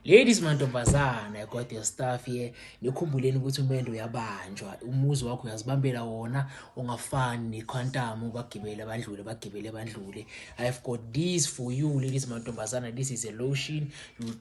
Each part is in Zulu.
Ladies mantombazana, I got your stuff here. Nikhumbuleni ukuthi umendo uyabanjwa. Umuzi wakho uyazibambela wona ungafani nequantum bagibele abandlule bagibele abandlule. I have got this for you ladies mantombazana. This is a lotion.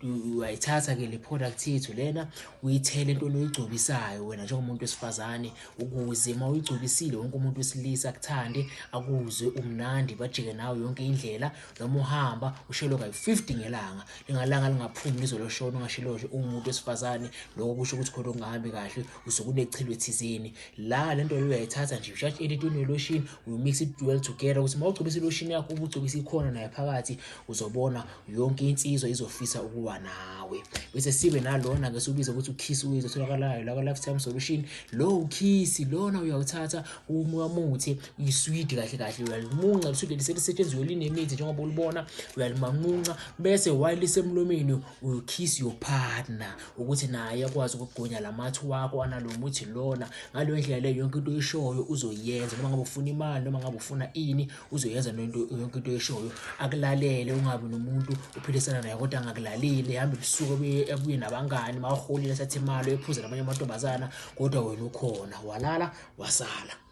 Uyayithatha ke le product yethu lena uyithele into oyigcobisayo wena njengomuntu wesifazane ukuze uma uyigcobisile wonke umuntu wesilisa akuthande akuzwe umnandi bajike nawe yonke indlela noma uhamba ushelo kayi-50 ngelanga lingalanga lingaphumi lizoloshona ungasheloshe umuntu wesifazane lokho kusho ukuthi khona okungahambi kahle usuke unechilo ethizeni la le nto leyo uyayithatha nje ushathi elitini weloshini uyomix it well together ukuthi uma ugcobisa iloshini yakho ubugcobisa ikhona naye phakathi uzobona yonke insizwa izofisa ukuba nawe bese sibe nalona-ke siwubiza ukuthi ukhisi uyizotholakalayo lakwa-lifetime solution lowo ukhisi lona uyawuthatha umuthi iswidi kahle kahle uyalimunca liswidi liselisetshenziswe linemithi njengoba ulibona uyalimanqunca bese while lisemlomeni you kiss your partner ukuthi naye akwazi ukugonya lamathi wakho analo muthi lona ngaleyo ndlela leyo yonke into oyishoyo uzoyenza noma ngabe ufuna imali noma ngabe ufuna ini uzoyenza lento yonke into oyishoyo akulalele ungabi nomuntu uphilisana naye kodwa angakulaleli hambe busuku abuye nabangani mawaholile sathi imali ephuze namanye amantombazana kodwa wena ukhona walala wasala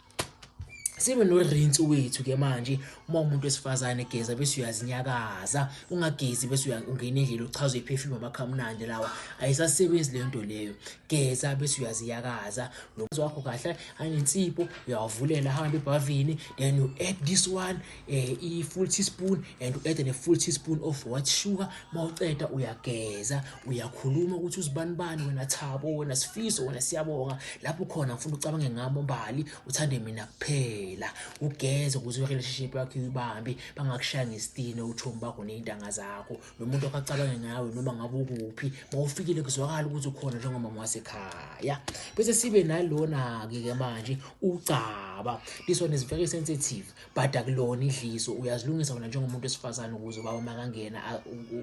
sibe norinsi wethu ke manje uma umuntu wesifazane egeza bese uyazinyakaza ungagezi bese ungena endlela uchaza iperfume amakhamnandi lawa ayisasebenzi le nto leyo geza bese uyaziyakaza nomzi wakho kahle anensipho uyawavulela hamba ebhavini then you add this one eh i full teaspoon and u add ne full teaspoon of white sugar mawuceda uyageza uyakhuluma ukuthi uzibani bani wena Thabo wena Sifiso wena Siyabonga lapho khona ngifuna ucabange ngami mbali uthande mina kuphela ugeze ukuze relationship yakho ibambe bangakushaya ngesitini uchomi bakho nezintanga zakho nomuntu akacabange ngawe noma ngabe ukuphi mawufikile kuzwakala ukuthi ukhona njengoba mwasekhaya bese sibe nalona ke manje ucaba this one is very sensitive bhada kulona idliso uyazilungisa wena njengomuntu wesifazane ukuze ubaba makangena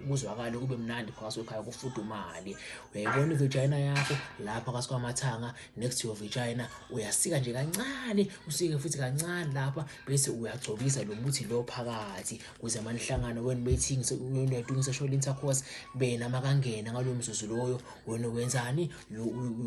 kuzwakale kube mnandi phakathi kwekhaya kufudumale uyayibona ivagina yakho lapha phakathi kwamathanga next to your vagina uyasika nje kancane usike futhi kancane lapha bese uyagcobisa lo muthi lo phakathi kuze manihlangano wena bethi ngisekuyoyidungisesho lintercourse bena makangena ngalo mzuzu loyo wena wenzani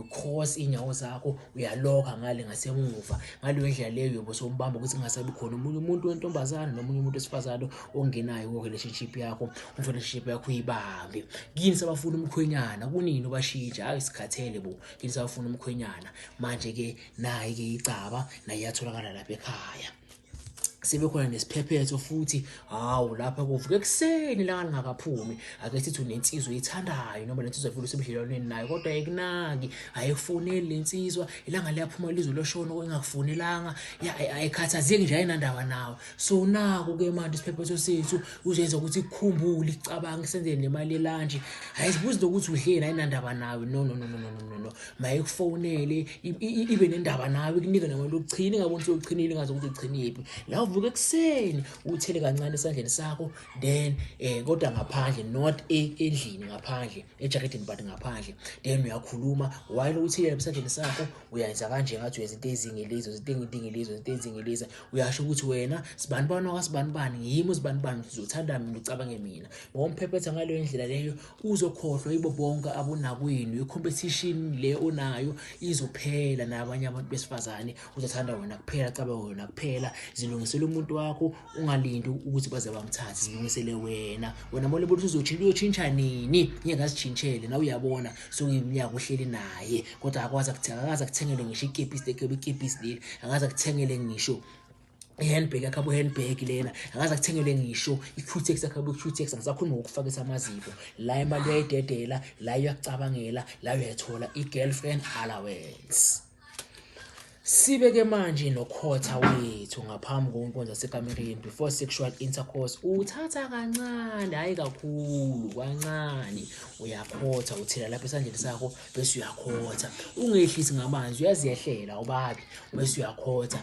ucross iy'nyawo zakho uyaloka ngale ngasemuva ngaleyo ndlela leyo yobe sombamba ukuthi kungasabi khona omunye umuntu wentombazane nomunye umuntu wesifazane ongenayo ko-relationship yakho umfelationship yakho uyibambe kini sabafuna umkhwenyana kunini ubashintsha hayi sikhathele bo kini sabafuna umkhwenyana manje-ke naye-ke icaba naye yatholakala lapha ekhaya sebekhona nesiphephetho futhi hawu lapha kuvuke ekuseni langa lingakaphumi ake sithi unensizwa oyithandayo noma lensizwa vele usebudlelwaneni nayo kodwa ayikunaki ayifoneli le nsizwa ilanga liyaphuma lizwe loshona okungakufonelanga ayikhathazeki nje ayinandaba nawo so naku ke manje isiphephetho sethu uzoyenza ukuthi ikukhumbule icabanga isenzele nemali elanje ayizibuzi lokuthi udleni ayinandaba nawe no no no no no no no mayekufonele ibe nendaba nawe ikunike nemali yokuchina ingaboni sewuchinile ingazi ukuthi uchiniphi la uvuka ekuseni uthele kancane esandleni sakho then um kodwa ngaphandle not e-, endlini ngaphandle ejakedini but ngaphandle then uyakhuluma while uthile esandleni sakho uyenza kanje ngathi uyenza into ezingilizo zinto engidingilizo zinto ezingiliza uyasho ukuthi wena sibani bani wakasibani bani yimi usibani bani uzothanda mina ucabange mina ngoba umphephetha ngaleyo ndlela leyo uzokhohlwa yibo bonke abonakwenu i-competition le onayo izophela nabanye abantu besifazane uzothanda wena kuphela cabe wena kuphela zilungisele umuntu wakho ungalindi ukuthi baze bamthathe zilungisele wena wena mole bothi uzoshintsha uyotshintsha nini ngeke azitshintshele nawe uyabona sokuyiminyaka uhleli naye kodwa akwazi akuthenga akazi akuthengele ngisho ikepisi lekebe ikepisi leli akazi akuthengele ngisho i-handbag yakhe abu-handbag lena akaze akuthengele ngisho i-qtex yakhe abu-qtex angisakhulumi ngokufakisa amaziko la imali uyayidedela la uyakucabangela la uyayithola i-girlfriend allowance sibe-ke manje nokhotha wethu ngaphambi konkonza sekamereni before sexual intercourse uthatha kancane hhayi kakhulu kancane uyakhotha uthela lapha esandleni sakho bese uyakhotha ungehlisi ngamanzi uyaziyehlela ubabi bese uyakhotha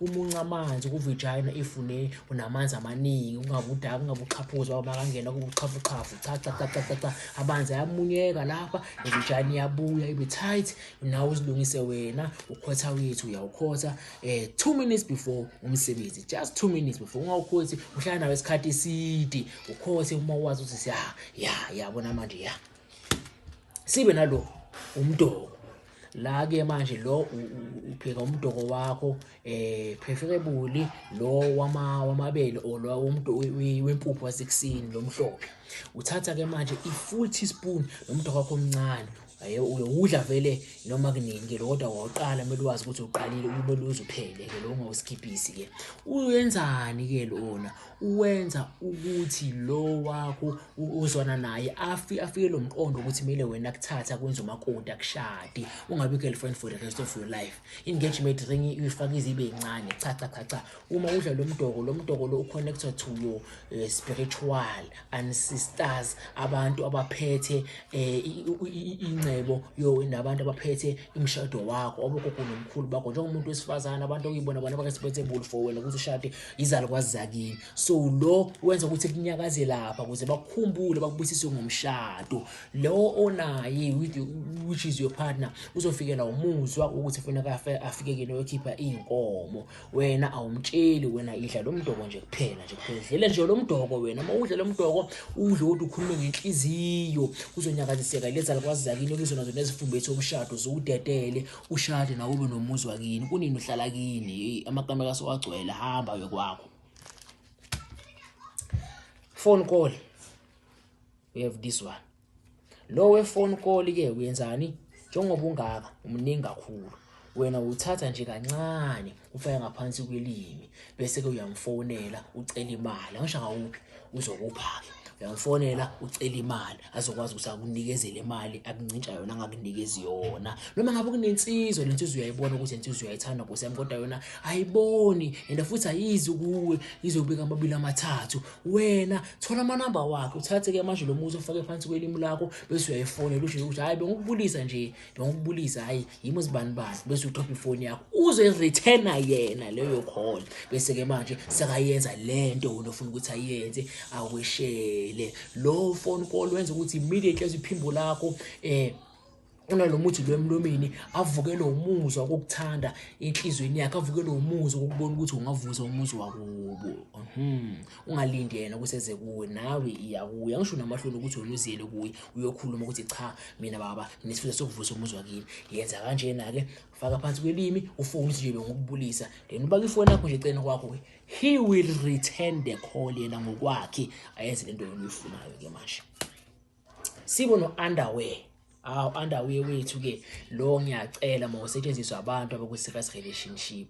uma unca amanzi kuvijayina if une unamanzi amaningi ungabe udaka ungabe uxhaphuza uma kangena kuba uxhafuxhafu cha cha cha cha cha amanzi ayamunyeka lapha ivijayina iyabuya ibe tight nawe uzilungise wena ukhotha wethu uyawukhotha eh 2 minutes before umsebenzi just 2 minutes before ungawukhothi uhlala nawe isikhathi eside ukhothe uma wazi ukuthi ya ya yabona manje ya sibe nalo umdoko la ke manje lo upheka umdoko wakho eh preferably lo wama wamabele or lo umuntu wempuphu wasekusini lomhlophe uthatha ke manje i full teaspoon lomdoko wakho omncane uyowudla vele noma kunini ke kodwa wawuqala kumele wazi ukuthi uqalile kumele uzuphele ke lo ungawuskiphisi ke uyenzani ke lona uwenza ukuthi lo wakho uzwana naye afi afike lo mqondo ukuthi kumele wena akuthatha kwenza umakoti akushade ungabi girlfriend for the rest of your life engagement ring uyifaka izibe incane cha cha cha cha uma udla lo mdoko lo mdoko lo uconnected to your uh, spiritual ancestors abantu abaphethe eh, ingcebo yo nabantu abaphethe imshado wakho obogogo nomkhulu bakho njengomuntu wesifazana abantu okuyibona bona bakasiphethe bulfo wena ukuthi ushade izalukwazi zakini so lo wenza ukuthi kunyakaze lapha ukuze bakukhumbule bakubusise ngomshado lo onaye which is your partner uzofikela umuzwa ukuthi kufuneka afike kini oyokhipha iy'nkomo wena awumtsheli wena idla lo mdoko nje kuphela nje kuphela dlela nje lo mdoko wena uma udla lo mdoko udle kodwa ukhulume ngenhliziyo kuzonyakaziseka lezalukwazi zakini kuzona zona ezifumbethi omshado ziwudedele ushade nawe ube nomuzi wakini kunini uhlala kini amakamela asewagcwele hamba yokwakho phone call we have this one lo we phone call ke uyenzani njengoba ungaka umningi kakhulu wena uthatha nje kancane ufaka ngaphansi kwelimi bese-ke uyamfonela ucela imali angisho akawuphi uzokupha-ke uyamfonela ucela imali azokwazi ukuthi akunikezele imali akuncintsha yona angakunikezi yona noma ngabe kunensizwa le nsizwa uyayibona ukuthi le nsizwa uyayithanda nkosi yami kodwa yona ayiboni and futhi ayizi kuwe izobika amabili amathathu wena thola amanamba wakhe uthathe-ke manje lo muzi ofake phansi kwelimi lakho bese uyayifonela usho ukuthi hhayi bengikubulisa nje nokubulisa hayi yimo zibani bani bese uthopha ifoni yakho uze returna yena leyo call bese ke manje sekayenza lento wena ofuna ukuthi ayenze aweshele lo phone call wenza ukuthi immediately iphimbo lakho eh unalomuthi lo emlomeni avukelwe umuzwa kokuthanda enhlizweni yakhe avukelwe umuzwa ukubona ukuthi ungavuza umuzi wakubo mhm ungalindi yena ukuthi eze kuwe nawe iya kuye angisho namahloni ukuthi wena uziyele kuye uyokhuluma ukuthi cha mina baba nginesifiso sokuvusa umuzi wakini yenza kanjena-ke faka phansi kwelimi ufone ukuthi nje bengokubulisa then ubaka ifoni yakho nje eceleni kwakho ke he will return the call yena ngokwakhe ayenze le nto yona uyifunayo-ke manje sibo no underwear awu underwear wethu ke lo ngiyacela mawusetshenziswa abantu abakwi serious relationship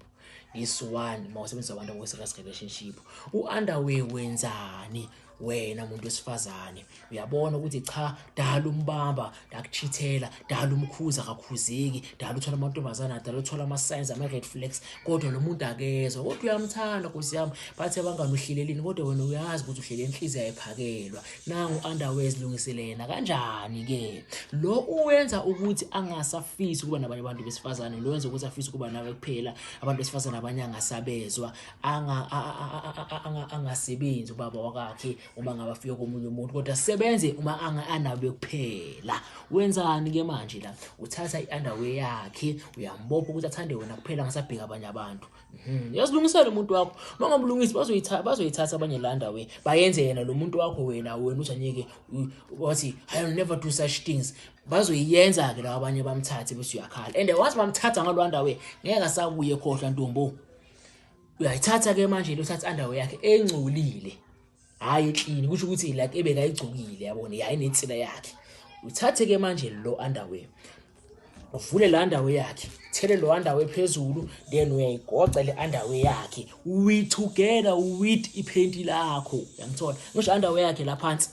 this one mawusebenzisa abantu abakwi serious relationship u underwear wenzani wena muntu wesifazane uyabona ukuthi cha dala umbamba ndakuchithela dala umkhuza akakhuzeki dala uthola amantombazana dala uthola ama signs ama red flags kodwa lo muntu akezwa kodwa uyamthanda nkosi yami bathe bangani uhlelelini kodwa wena uyazi ukuthi uhlele inhliziyo ayiphakelwa nangu underwears lungisile yena kanjani ke lo uwenza ukuthi angasafisi ukuba nabanye abantu besifazane lo wenza ukuthi afise ukuba nawe kuphela abantu besifazane abanye angasabezwa angasebenzi ubaba wakakhe uma ngaba fike komunye umuntu kodwa sebenze uma anabe kuphela wenzani ke manje la uthatha i-underwear yakhe uyambopha ukuthi athande wena kuphela angasabheka abanye abantu Hmm, yazilungisela umuntu wakho mangabulungisi bazoyithatha bazoyithatha abanye landa we bayenze yena lo muntu wakho wena wena uthi anyeke wathi i will never do such things bazoyiyenza ke lawa abanye bamthathe bese uyakhala and wathi bamthatha ngalwanda we ngeke asakuye khohlwa ntombo uyayithatha ke manje lo thatha underwear yakhe engcolile hayi eklini kusho ukuthi like ebekayigcokile yabona yayi nensila yakhe uthathe ke manje lo underwear uvule le underwear yakhe thele lo underwear phezulu then uyayigoca le underwear yakhe we together with iphenti lakho yangithola ngisho underwear yakhe la phansi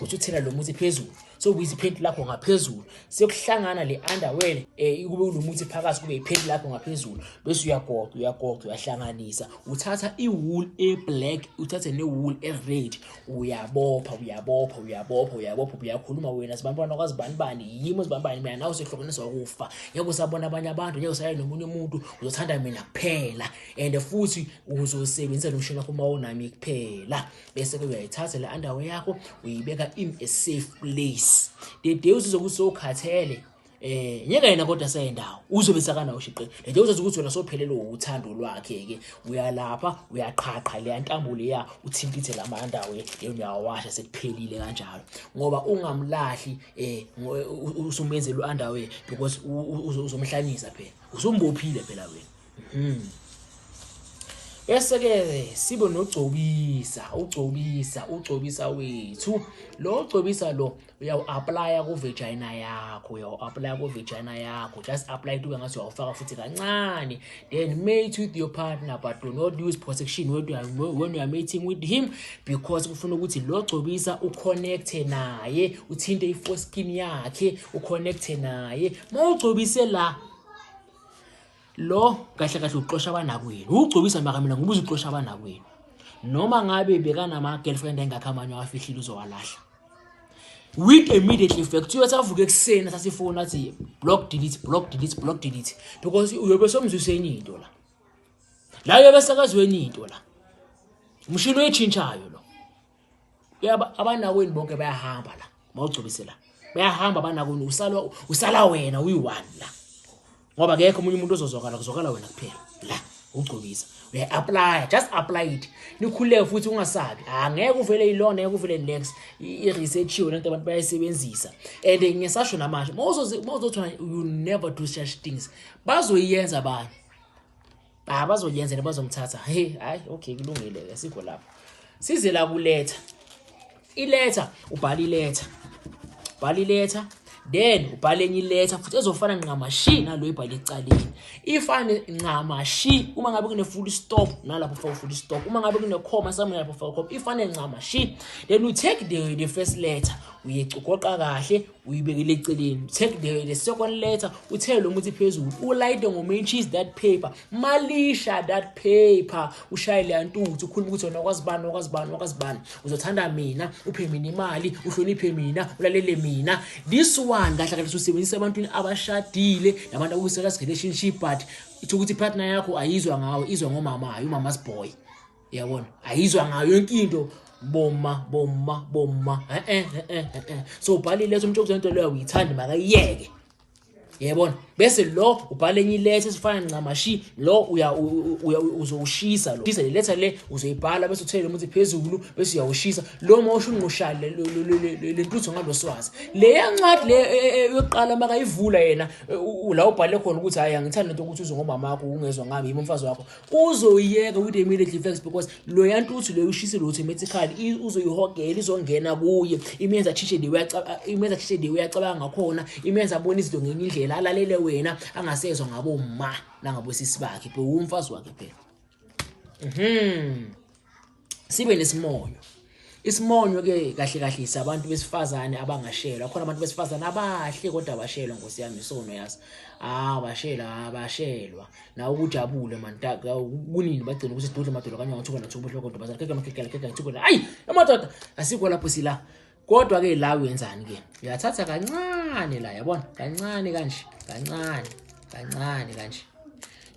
uthi uthela lo muthi phezulu sokubuyisa iphenti lakho ngaphezulu sekuhlangana le underwear eh kube unomuthi phakathi kube iphenti lakho ngaphezulu bese uyagoqa uyagoqa uyahlanganisa uthatha iwool eblack uthathe newool ered uyabopha uyabopha uyabopha uyabopha uyakhuluma wena sibantwana kwazi bani bani yimo sibani bani mina nawe sehlokoniswa ukufa ngeke usabona abanye abantu ngeke usaye nomunye umuntu uzothanda mina kuphela and futhi uzosebenzisa nomshini wakho uma unami kuphela bese-ke uyayithatha le underwear yakho uyibeka in a safe place the day usizobe usokhathele eh nyeka yena kodwa sendawo uzobe sakanawo shiqe nje uzazi ukuthi wena sophelelwe uthando lwakhe ke uyalapha uyaqhaqha le ntambo leya uthintithe lamanda we uyawasha sekuphelile kanjalo ngoba ungamlahli eh usumenze lo underwear because uzomhlanyisa phela usumbophile phela wena Hmm. Bese-ke sibe nogcobisa, ugcobisa, ugcobisa wethu. Lo ugcobisa lo uyawu-aplaya kuvejayina yakho, uyawu-aplaya kuvejayina yakho. Just apply it ube ngathi uyawufaka futhi kancane. Then mate with your partner but do not use protection when you are, when you are mating with him because kufuna ukuthi lo gcobisa uconnecte naye, uthinte i-foreskin yakhe, uconnecte naye. Mawugcobise la lo kahle kahle uxosha abanakwenu ugcobisa makamina ngoba uzuxosha abanakwenu noma ngabe bekanama-girlfriend engakho amanye awafihlile uzowalahla with immediately effect uyothi avuke ekuseni sasifoni athi block delete block delete block delete because uyobe somzwiseni into la la uyobe sekazweni into la umshini oyitshintshayo lo yaba abanakwini bonke bayahamba la mawugcobise la bayahamba abanakwini usala usala wena uyi-one la ngoba kekho omunye umuntu ozozwakala kuzwakala wena kuphela la ugcobisa uya-aplya just apply it nikhululeke futhi ungasabi ha ah, ngeke uvele ilona ngeke uvele next i-researchiwe lento abantu bayayisebenzisa and ngisasho namanje ma uzothola you never do such things bazoyiyenza abantu Ah bazoyenza ne bazomthatha. Hey, hayi okay kulungile ke sikho lapho. Size la kuletha. Iletha ubhala iletha. Bhala iletha then ubhale enye iletha futhi ezofana nqamashi nalo ibhale ecaleni ifane nqamashi uma ngabe kune full stop nalapho faka full stop uma ngabe kune comma somewhere lapho faka comma ifane nqamashi then you take the, the first letter uyecugoqa kahle uyibekele eceleni take the, the second letter uthele lo muthi phezulu ulayite ngomentshis that paper malisha that paper ushaye leya ntuthu ukhuluma ukuthi wena wakwazi bani wakwazi bani wakwazi bani uzothanda mina uphe mina imali uhloniphe mina ulalele mina this one kahle kahle usebenzisa ebantwini abashadile nabantu akuseka relationship but itho ukuthi partner yakho ayizwa ngawe izwa ngomama hayi umama's boy yabona ayizwa ngayo yonke into boma boma boma eh eh eh eh so ubhale iletha umuntu okuzonto leyo uyithanda makayiyeke yebona bese lo ubhale enye iletha esifana ncamashi lo uya uzowushisa lo shisa le letha le uzoyibhala bese uthele umuthi phezulu bese uyawushisa lo uma usho unqushale lentutho ngaloswazi le yancwadi le e, e, e, yokuqala makayivula yena la ubhale khona ukuthi hayi angithandi lento ukuthi uze ngomama wakho ungezwa ngami yimi umfazi wakho uzoyiyeka with immediately facts because loya ntuthu loyo ushisile automatically uzoyihogela izongena kuye imenza chishe de imenza chishe de uyacabanga ngakhona imenza abona izinto ngenye indlela alalele wena angasezwa ngabo ma nangabo sisi bakhe bhe umfazi wakhe phela mhm sibe nesimonyo isimonyo ke kahle kahle isabantu besifazane abangashelwa khona abantu besifazane abahle kodwa abashelwa nkosi yami isono yazi ah bashela abashelwa na ukujabule manta kunini bagcina ukuthi sidudle madoda kanye ngothuka nathuka ubuhloko kodwa bazakhe kama khekela khekela ngithuka ayi amadoda asikho lapho sila kodwa ke la uyenzani ke uyathatha kancane la yabona kancane kanje kancane kancane kanje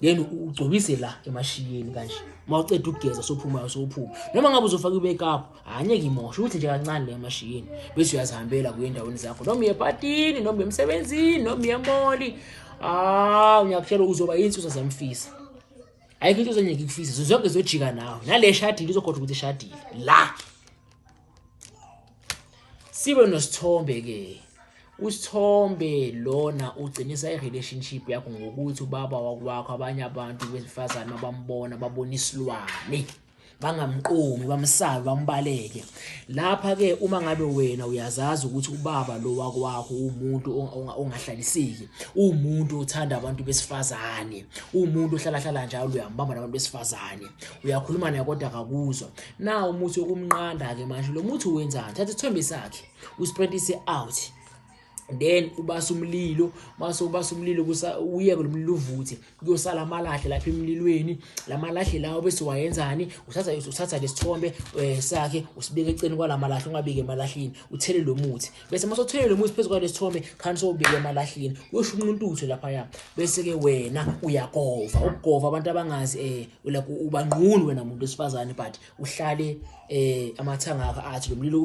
then ugcobise la emashiyeni kanje uma uceda ukugeza sophumayo sophuma noma ngabe uzofaka i-makeup angeke imoshe ukuthi nje kancane la emashiyeni bese uyazihambela kuye endaweni zakho noma uye epatini noma uye emsebenzini noma uye emoli hawu ngiyakutshela uzoba yinsusa zamfisa ayikho into zengeke ikufise zonke zojika nawe nale shadile uzokhoda ukuthi ishadile la sibe nosithombe ke usithombe lona ugcinisa i-relationship yakho ngokuthi ubaba wakwakho abanye abantu besifazane abambona babona isilwane bangamqomi bamsabi bambaleke lapha ke uma ngabe wena uyazazi ukuthi ubaba lo wakwakho umuntu ongahlaliseki umuntu othanda abantu besifazane umuntu ohlala hlala njalo uyambamba nabantu besifazane uyakhuluma naye kodwa akakuzwa na umuthi wokumnqanda-ke manje lo muthi wenzani thatha isithombe sakhe usprentise out then ubasa umlilo mase ubasa umlilo uyeke lomlilo uvuthe kuyosala amalahle lapha emlilweni lamalahle lawo bese wayenzani uthatha uthatha lesithombe eh, sakhe usibeke eceleni kwalamalahle ungabike emalahleni uthele lo muthi bese mase uthele lo muthi phezu kwalesithombe khani sowubike emalahleni uyosho umuntu utho lapha ya bese ke wena uyagova ukugova abantu abangazi eh like ubangquni wena muntu wesifazane but uhlale eh amathanga akho athi lo mlilo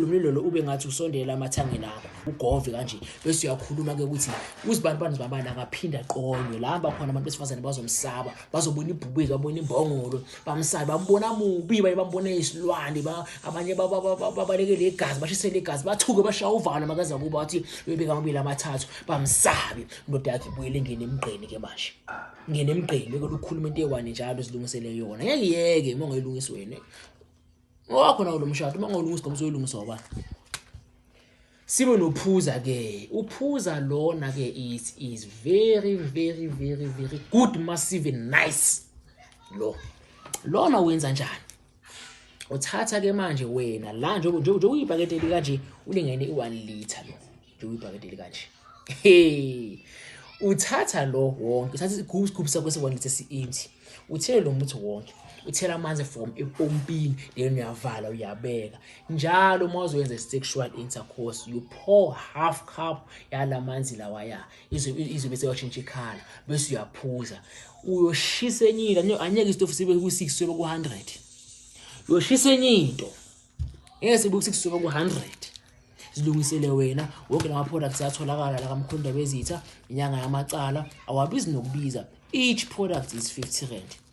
lo mlilo lo ube ngathi usondela amathangeni akho ugove kanje bese uyakhuluma ke ukuthi uzibani bani zibabani akaphinda qonywe la hamba khona abantu besifazane bazomsaba bazobona ibhubezi babona imbongolo bamsabe bambona mubi baye bambona isilwane ba abanye babalekele igazi bashisele igazi bathuke bashaya uvalo makaza kuba wathi bebeka amabili amathathu bamsabe indoda yakhe ibuyele ngene emgqeni ke manje ngene emgqeni beke lukhuluma into ewani njalo zilungisele yona ngeke yeke uma ungayilungisi wena wakho nawo lo mshado uma ungawulungisi ngoba uzoyilungisa oba sibe nophuza ke uphuza lona ke is is very very very very good massive nice lo lona wenza njani uthatha ke manje wena la nje nje nje uyibhakede lika nje ulingene i1 liter lo nje uyibhakede lika nje hey uthatha lo wonke uthatha isigubhu isigubhu sakho se1 liter siinti uthele lo muthi wonke uthela amanzi from epompini then uyavala uyabeka njalo uma uzoyenza sexual intercourse you pour half cup yalamanzi lawa ya izwe bese washintsha ikhala bese uyaphuza uyoshisa enye into anyeke isitofu sibe ku-six sobe ku-hundred uyoshisa enye into ngeke sibe ku-six sobe ku-hundred zilungisele wena wonke la ma-products atholakala la kamkhonda bezitha inyanga yamacala awabizi nokubiza each product is 50 rand